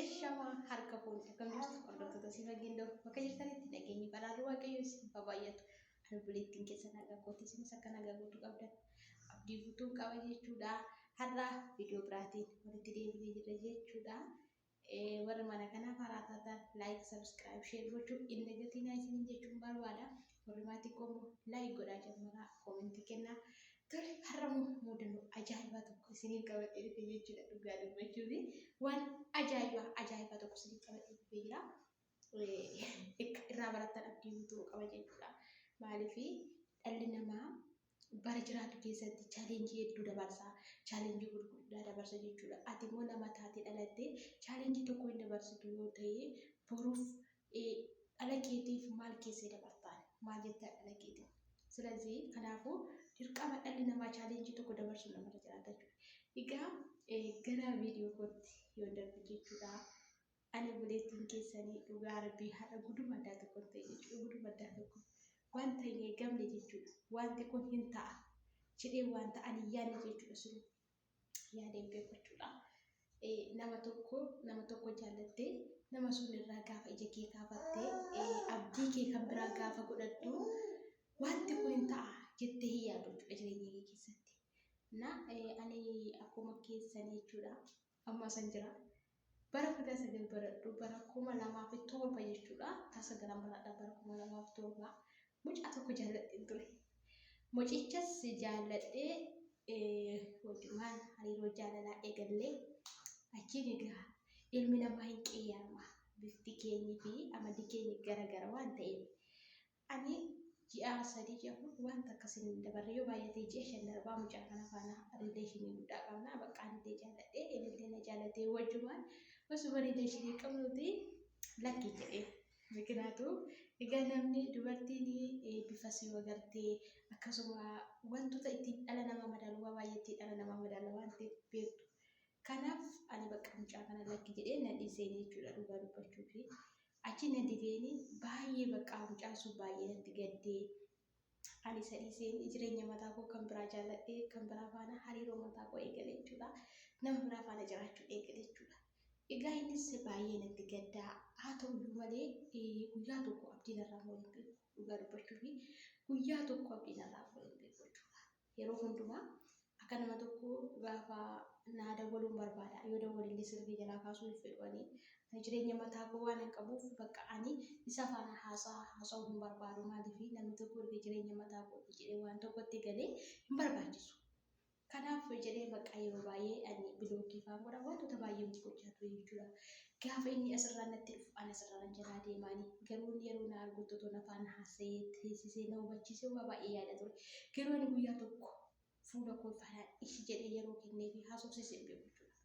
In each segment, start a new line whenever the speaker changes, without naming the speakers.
Ashamaa harka fuuni akkam jirtu hordoftoota si fageenya doo bakka jirtanitti nageenyi badhaadhu waaqayyo isin baay'atu albuleettiin keessa nagaa kooti isinis akka nagaa guutuu qabdan abdii guutuun qaba jechuudha har'a viidiyoo biraatiin walitti deebinee jirra jechuudha warri mana kanaaf haaraa taatan laayik sabiskiraayib sheer gochuun inni gatiin isiniin jechuun barbaada Warri maatii koo immoo like godhaa jammaraa koomentii kennaa. Tole har'a immoo muudannoo ajaa'ibaa tokko isiniif qabadhee dhufe jechuudha dhugaa dubbachuuf waan ajaa'ibaa ajaa'ibaa tokko isiniif qabadhee dhufee jira. Akka irraa barattan abdii guutuu qaba jechuudha. Maaliif dhalli namaa bara jiraatu keessatti challenge hedduu dabarsa challenge gurguddaa dabarsa jechuudha ati immoo nama taate dhalatte challenge tokko hin dabarsitu yoo ta'e boruuf dhala keetiif maal keessee dabartaan maal jettaa dhala keetiif ስለዚህ kanaafuu dirqama dhalli namaa challenge tokko dabarsuun namarra jiraata jechuudha egaa gara viidiyoo kootti yoo darbu jechuudha Ani oboleettin keessani dhugaa rabbii har'a guduma addaa tokkon ta'e jechuudha guduma addaa tokko waan ta'e hin eegamne jechuudha waanti kun hin ta'a jedhee waanta ani hin yaadne jechuudha sunu yaadeen beeku jechuudha nama tokko nama tokko jaallattee nama sun irraa gaafa ija kee kaafattee abdii kee kan biraa gaafa godhattu waanti kun hin ta'a jettee hin yaadu jechuudha jireenya kee keessatti na ani akkuma keessan jechuudha Amma asan jira. Bara kudha sagal baradhu bara kuma lamaa fi torba jechuudha. Kutaa sagalan baradha bara kuma lamaa fi torba. Mucaa tokko jaalladheen ture. Mucichas jaalladhee wajjumaan hariiroo jaalalaa eegallee achiin egaa ilmi namaa hin qeeyyaarama. Bifti keenyi fi amalli keenya gara gara waan ta'eef Ani ji'aa sadii ji'a afur waan takka sin hin dabarre yoo baay'ate ji'a shan darbaa mucaa kana faana rileeshinii guddaa qabna baqqaa nillee jaaladhe inillee na jaalatee wajjumaan osuma rileeshinii qabnuti lakkii jedheen. Mikinaatu egaa namni dubartiin bifa si wagartee akkasuma wantoota ittiin dhala nama madaalu waa baay'eetti dhala nama madaala waan ta'eef beektu. Kanaaf ani bakka mucaa kana lakki jedhee na dhiiseen jechuudha dhugaa dubbachuufi. Achi na dibeeni baay'ee baqqaa mucaan sun baay'ee natti gaddee ani isa dhiiseen jireenya mataa koo kan biraa jaalladhee kan biraa faana hariiroo mataa koo eegale jechuudha. Nama biraa faana jiraachuu eegale jechuudha. Egaa innis baay'ee natti gaddaa haa ta'uyyuu malee guyyaa tokko abdiin irraa foon hin beeku dhugaa dubbachuuf guyyaa tokko abdiin irraa foon hin beeku jechuudha. Yeroo hundumaa akka nama tokkoo gaafa naa dawwaluun barbaada. Yoo dawwalellee silkii jalaa kaasuu hin fedhu ani. Ani jireenya mataa koo waanan qabuuf bakka ani isa faana haasaa haasa'uu hin barbaadu. Maaliif namni tokko erga jireenya mataa kooti jedhee waan tokkotti galee hin barbaachisu. Kanaaf jedhee bakka yeroo baay'ee ani bilookii faan godha. Wantoota baay'ee gochaa ture jechuudha. Gaafa inni asirraan natti dhufu an asirraan jalaa deemaani. Garuu inni yeroo na argutti otoo na faana haasa'ee, teessisee, na hubachiisee waa baay'ee yaada ture. Garuu ani guyyaa tokko fuula koo ifaadhaan ishi jedhee yeroo kenneefi haasofsiise hin beeku jechuudha.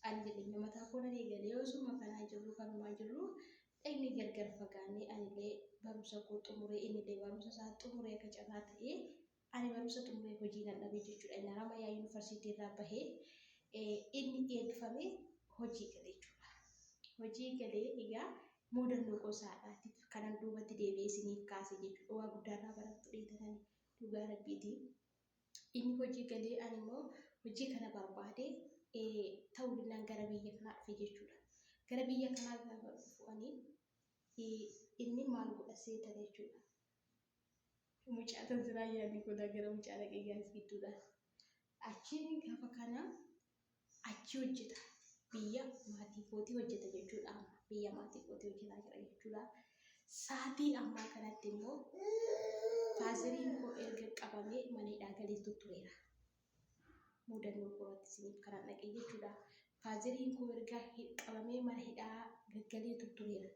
Ani jireenya mataa koo nan eegalee osuma kanaa jirru kanumaa jirru dhaqnee gargar fagaannee anillee barumsa koo xumuree innillee barumsa isaa xumuree akka carraa ta'ee Ani barumsa xumuree hojii nan dhabe jechuudha. Inni Haramaya Yuunivarsiitii irraa bahee inni eebbifamee hojii gale jechuudha. Hojii galee egaa muudannoo gosaadhaatiif kanan duubatti deebi'ee isiniif kaase jechuudha. Waa guddaa irraa barattu dheetanani dhugaa rabbiiti. Inni hojii galee ani immoo hojii kana barbaade ta'uu dinnaan gara biyya kanaa dhufe jechuudha. Gara biyya kanaa gaafa dhufu ani inni maal godha seetana jechuudha. Mucaa tan siraa yaadii godaa gara mucaa dhaqee gaas gidduudha. Achiin gaafa kana achi hojjeta. Biyya maatii kootii hojjeta jechuudha. Biyya maatii kootii hojjetaa jira jechuudha. Saatii ammaa kanatti immoo faaziriin koo erga qabamee mana hidhaa galeetu tureera. muudannoo koo irratti isiniif kanan dhaqe jechuudha. Faazeriin koo erga qabamee mana hidhaa gaggalee tuttureera.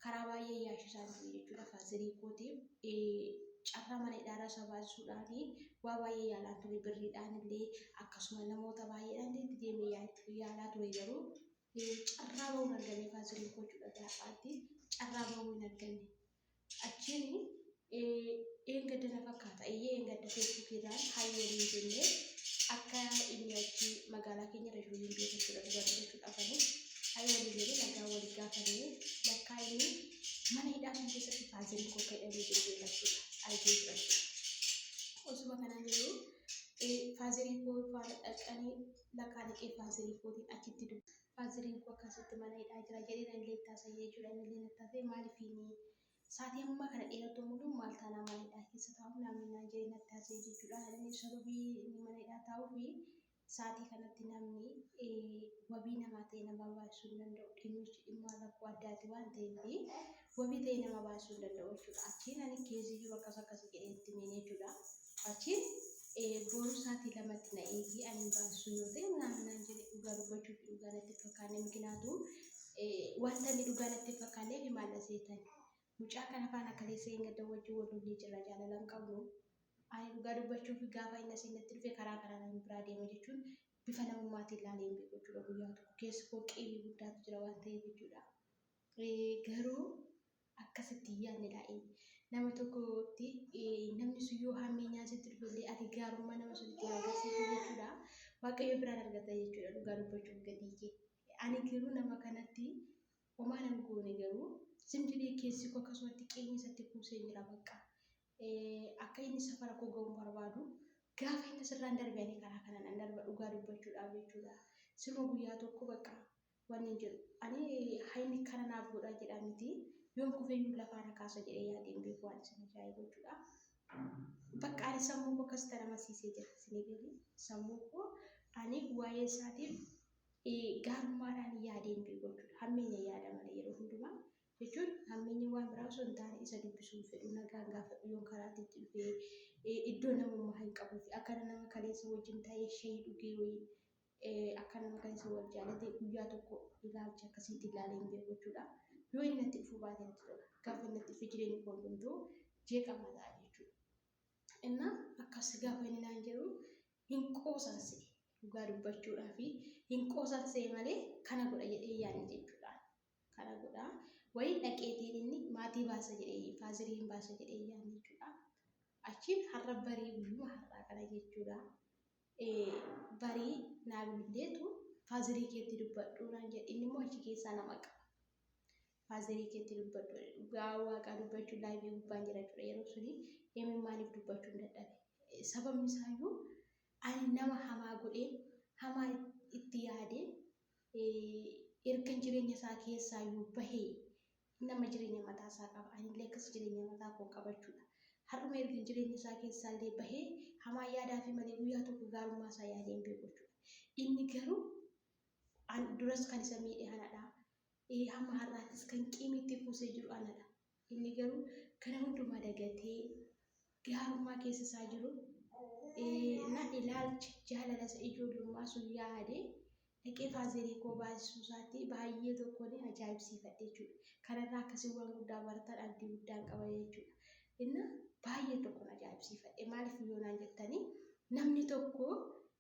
Karaa baay'ee yaashisaa ture jechuudha faazerii kootiif. Carraa mana hidhaa irraa sabaasisuudhaan waa baay'ee yaalaa ture birriidhaan illee akkasuma namoota baay'eedhaan deemee yaalaa ture garuu carraa bahuu hin arganne kaansilii gochuudha gaaffaatti carraa bahuu hin arganne achiin eengadda na fakkaata eeyyee eengadda feesbuukiirraan hayyanii jennee akka inni achi magaalaa keenya irra jiru hin beeku jechuudha dhugaa dubbachuu qabanii hayyanii jennee nagaa walii gaafannee lakkaa inni mana hidhaa kan keessatti kaansilii koo ka'ee jiru beekachuudha argee jira osuma kanaan jiru faazilii koo faana dhaqanii laqaa dhiqee faazilii kootiin achitti dubbe. Faaziliin koo akkasitti mana hidhaa jira jedhee na illee ittaasa'e jechuudha. Inni illee nattaasa'e maalifiini saatii ammaa kana dheeratu muluu maal taanaa mana hidhaa keessa taa'u naamni naan jedhee nattaasa'e jechuudha. Inni sababii inni mana hidhaa taa'uu fi saatii kanatti namni wabii namaa ta'e namaa baasisuu hin danda'u. Dhimmichi dhimma rakkoo addaati waan ta'eef wabii ta'ee nama baasuu hin danda'u jechuudha. Achiin ani keezii jiru akkas akkas jedhee itti himeen jechuudha. Achiin booruu sa'aatii lamatti na eegii ani hin baasuu yoo ta'e naan naan jedhe dhugaa dubbachuuf dhugaa natti fakkaanne mikinaatu wanta inni dhugaa natti fakkaanne fi maalla seetan. Mucaa kana faana akka teessee hin gadda wajjin wal lollee jirra jaalala hin qabnu. Ani dhugaa dubbachuuf gaafa inni asiin natti dhufe karaa karaa nama biraa deema jechuun bifa namummaatiin ilaalee hin beeku jechuudha guyyaa tokko keessa koo qiimii guddaatu jira waan ta'eef jechuudha. Garuu akkasitti hin yaadne ta'i. Nama tokkotti namni sun yoo hammeenyaa sitti dhufellee ati gaarummaa nama sunitti hin agarsiisu jechuudha. Waaqayyo biraan argata jechuudha dhugaa dubbachuuf gatii kee. Ani garuu nama kanatti homaa nan goone garuu zim jedhee keessi koo akkasumatti qeenyi isatti kuusee jira bakka. Akka inni safara koo ga'uun barbaadu gaafa inni sirraan darbee ani karaa kanaan an darba dhugaa dubbachuudhaaf jechuudha. Siruma guyyaa tokko bakka Waniin jedhu ani haymi kana naaf godhaa jedhaa miti yoon kufeyyuu lafaa na kaasa jedhee yaadee hin beeku waan isin ajaa'ibu jechuudha. Bakka ani sammuu koo akkasitti ana amansiisee jira isinii galee sammuu koo ani waa'ee isaatiif gaarummaadhaan yaadee hin beeku jechuudha. Hammeenya yaada malee yeroo hundumaa jechuun hammeenyi waan biraa osoo hin taane isa dubbisuu hin fedhu nagaan gaafadhu yoon karaatti itti dhufee iddoo namummaa hin qabuu fi akkana nama kaleessa wajjin ta'ee shayii dhugee wayii Akka nama kan isa wal jaalate guyyaa tokko ilaalcha akkasiitti ilaalee hin beeku jechuudha. Yoo inni natti dhufuu baate natti tola. Gaafa inni natti dhufe jireenyi koo hundumtuu jeeqamaa ta'a jechuudha. Innaa akkas gaafa inni naan jedhu hin qoosan se'e. Dhugaa dubbachuudhaa fi hin qoosan se'e malee kana godha jedhee yaadne jechuudha. Kana godha wayii dhaqeetiin inni maatii baasa jedhee faazirii hin baasa jedhee yaadne jechuudha. Achiin har'a barii guyyuma har'aa kana jechuudha. ee barii naa bilbileetu faazerii keetti dubbadhu naan jedhe inni immoo achi keessaa na maqa faazerii keetti dubbadhu dhugaa waaqaa dubbachuu laayivii gubbaan jira ture yeroo suni emin maaliif dubbachuu hin dadhabe sababni isaayyuu ani nama hamaa godhee hamaa itti yaadee ergan jireenya isaa keessaayyuu bahee Nama jireenya mataa isaa qaba. Ani illee akkas jireenya mataa koo qabachuu dha. Har'uma ergan jireenya isaa keessaa illee bahee hamaa yaadaa fi malee guyyaa tokko gaarummaa isaa yaadee hin beeku jechuu dha. Inni garuu an duras kan isa miidhe ana dha. Ee, hamma har'aattis kan qiimitti kuusee jiru ana dha. Inni garuu kana hundumaa dagatee gaarummaa keessa isaa jiru na ilaalche jaalala isa ijoollummaa sun yaadee dhaqee faazerii koo baasisuu isaatti baay'ee tokko ni ajaa'ibsiifadhe jechuudha. Kanarraa akkasii waan guddaa baratan abdii guddaan qaba jechuudha. Inna baay'ee tokko na ajaa'ibsiifadhe maaliif yoo naan jettanii namni tokko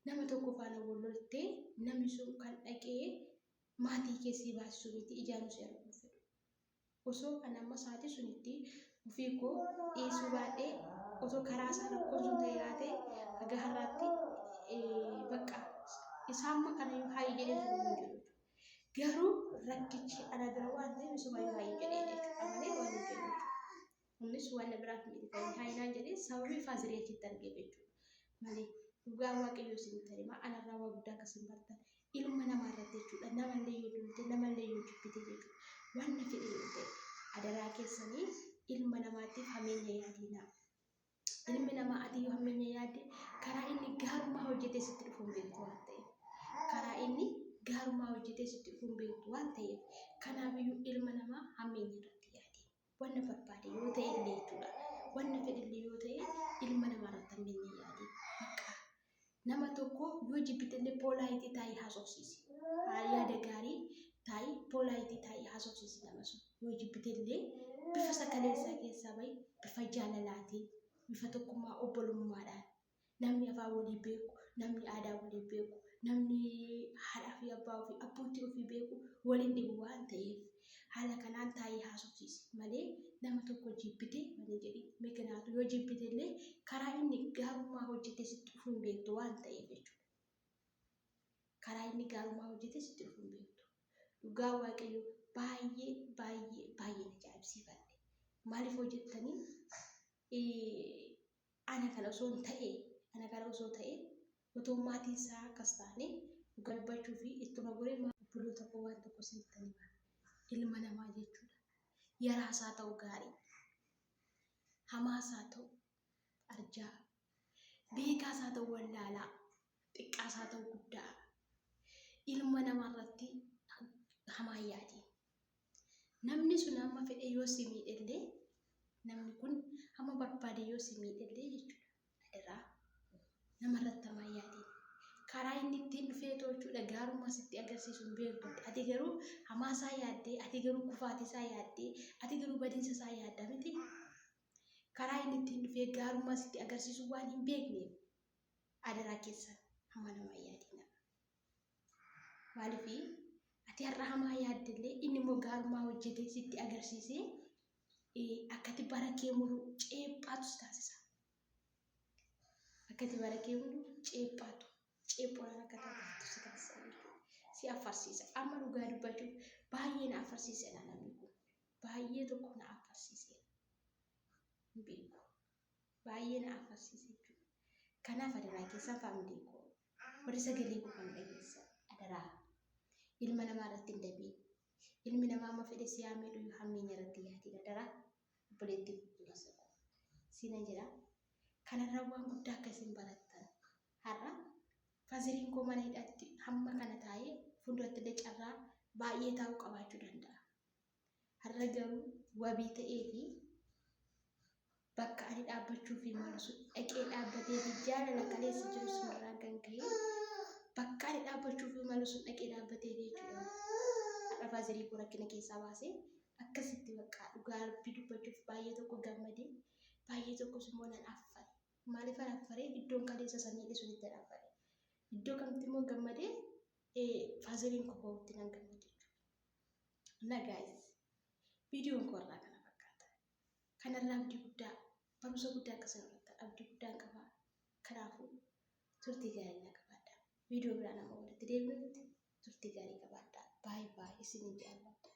nama tokko faana wal loltee namni sun kan dhaqee maatii keessii baasisuu miti ijaanuu si arguu fedhu. Osoo kan amma sa'aatii sun itti ofii koo dhiisuu baadhee otoo karaa isaa rakkoon sun ta'e yaate haga har'aatti bakka isaa amma kana yoo haayii jedhee jiru hin jiru. Garuu rakkichi ana bira waan ta'eef isuma yoo haayii jedhee jechuudha malee waan hin jedhu. Kunis wanna biraaf miti kan hin haayinaan jedhee sababii faaziliyachitti argeef jechuudha. Malee dhugaa waaqayyoo isinitti himaa anarraa waa guddaa akka isin bartan ilma namaa irratti jechuudha. Namallee yoo duute namallee yoo jibbite jechuudha. Wanna fedhe yoo ta'e adaraa keessanii ilma namaatiif hameenya yaadiinaa. Ilmi namaa ati yoo hammeenya yaadde karaa inni gaarummaa hojjetee sitti dhufu hin beektu waan ta'eef. Karaa inni gaarummaa hojjetee sitti dhufu hin beektu waan ta'eef. Kanaafiyyuu ilma namaa hammeenya irratti yaadi. wanna barbaade yoo ta'e illee jechuudha wanna fedhillee yoo ta'e ilma namaa irratti handeenya yaade bakka nama tokko yoo jibbitellee poolaayitii taa'ii haasofsiisi yaada gaarii taa'ii poolaayitii taa'ii haasofsiisi nama sun yoo jibbitellee bifa sagalee isaa keessaa bahi bifa jaalalaatiin bifa tokkummaa obbolummaadhaan Namni afaan walii beeku, namni aadaa walii beeku, namni haadhaa fi abbaa ofii, abbootii ofii beeku waliin dhibu waan ta'eef haala kanaan taa'ee haasofsiisi malee nama tokko jibbitee mana jedhi. Mikinaatu yoo jibbite illee karaa inni gaarummaa hojjete sitti dhufuu hin beektu waan ta'eef jechuudha. Karaa inni gaarummaa hojjete sitti dhufuu hin beektu. Dhugaa Waaqayyo baay'ee baay'ee baay'een ajaa'ibsiifadhe. Maaliif hojjettanii Ana kana osoon ta'ee Ana kana osoo ta'ee otoo maatii isaa akkas taanee dhuga dubbachuufi ittuma goree maal obboloota koo waan tokko isinittan hima ilma namaa jechuudha yaraas haa ta'u gaarii hamaas haa ta'u arjaa beekaas haa ta'u wallaalaa xiqqaas haa ta'u guddaa ilma namaa irratti hamaa yaadii Namni sun hamma fedhe yoo si miidhellee, namni kun hamma barbaade yoo si miidhellee jechuudha. Adaraa nama irratti hamaa hin yaadin. Karaa inni ittiin dhufee too jechuudha gaarummaa sitti agarsiisu hin beektu. Ati garuu hamaa isaa yaaddee, ati garuu kufaatii isaa yaaddee, ati garuu badiinsa isaa yaadda miti. Karaa inni ittiin dhufee gaarummaa sitti agarsiisu waan hin beekneef adaraa keessan hamaa namaa hin yaadinaa. Maaliif ati har'a hamaa yaaddellee inni immoo gaarumaa hojjetee sitti agarsiisee eh, akkati bara kee mulu ceephaatu si taasisa. Akkati bara kee mulu ceephaatu ceephoodhaan akka taatu si taasisa. Si afarsiisa. Amma dhugaa dubbachuuf baay'ee na afarsiiseera namni kun. Baay'ee tokko na afarsiiseera. Hin beeku. Baay'ee na afarsiise jechuudha. Kanaaf adaraa keessan faamilii koo Warri sagalee koo kana dhageessan adaraa ilma namaa irratti hin dabiin. Ilmi namaa amma fedhe si haa miidhu iyyuu hammeenya irratti hin yaadin adaraa obboleettii obboleessa koo siina jedha. Kanarraa waan guddaa akka isin barattan har'a faziriin koo mana hidhaatti hamma kana taa'ee fuulduratti illee carraa baay'ee taa'uu qabaachuu danda'a. Har'a garuu wabii ta'eefii bakka ani dhaabbachuufii malu sun dhaqee dhaabbateefii jaalala kaleessa jiru sunirraan kan ka'e bakka ani dhaabbachuufii malu sun dhaqee dhaabbateefii jechuudha. Har'a faazarii koo rakkina keessaa baasee akkasitti baqqaa dhugaa rabbii dubbachuuf baay'ee tokko gammadee baay'ee tokkos immoo nan affare. Maaliif an affaree iddoon kaleessa isa miidhe sunitti an affare. Iddoo kamitti immoo gammadee faazariin koo ka'utti nan gammade jechuudha. Na gaayis viidiyoon koo irraa kana fakkaata. Kanarraa abdii guddaa barumsa guddaa akkasuma irratti abdii guddaan qaba. Kanaafuu turtii gaarii naa qabaadhaa. Viidiyoo biraan amma walitti deebinutti turtii gaarii qabaadhaa. Baay baay isiniin jaalladha.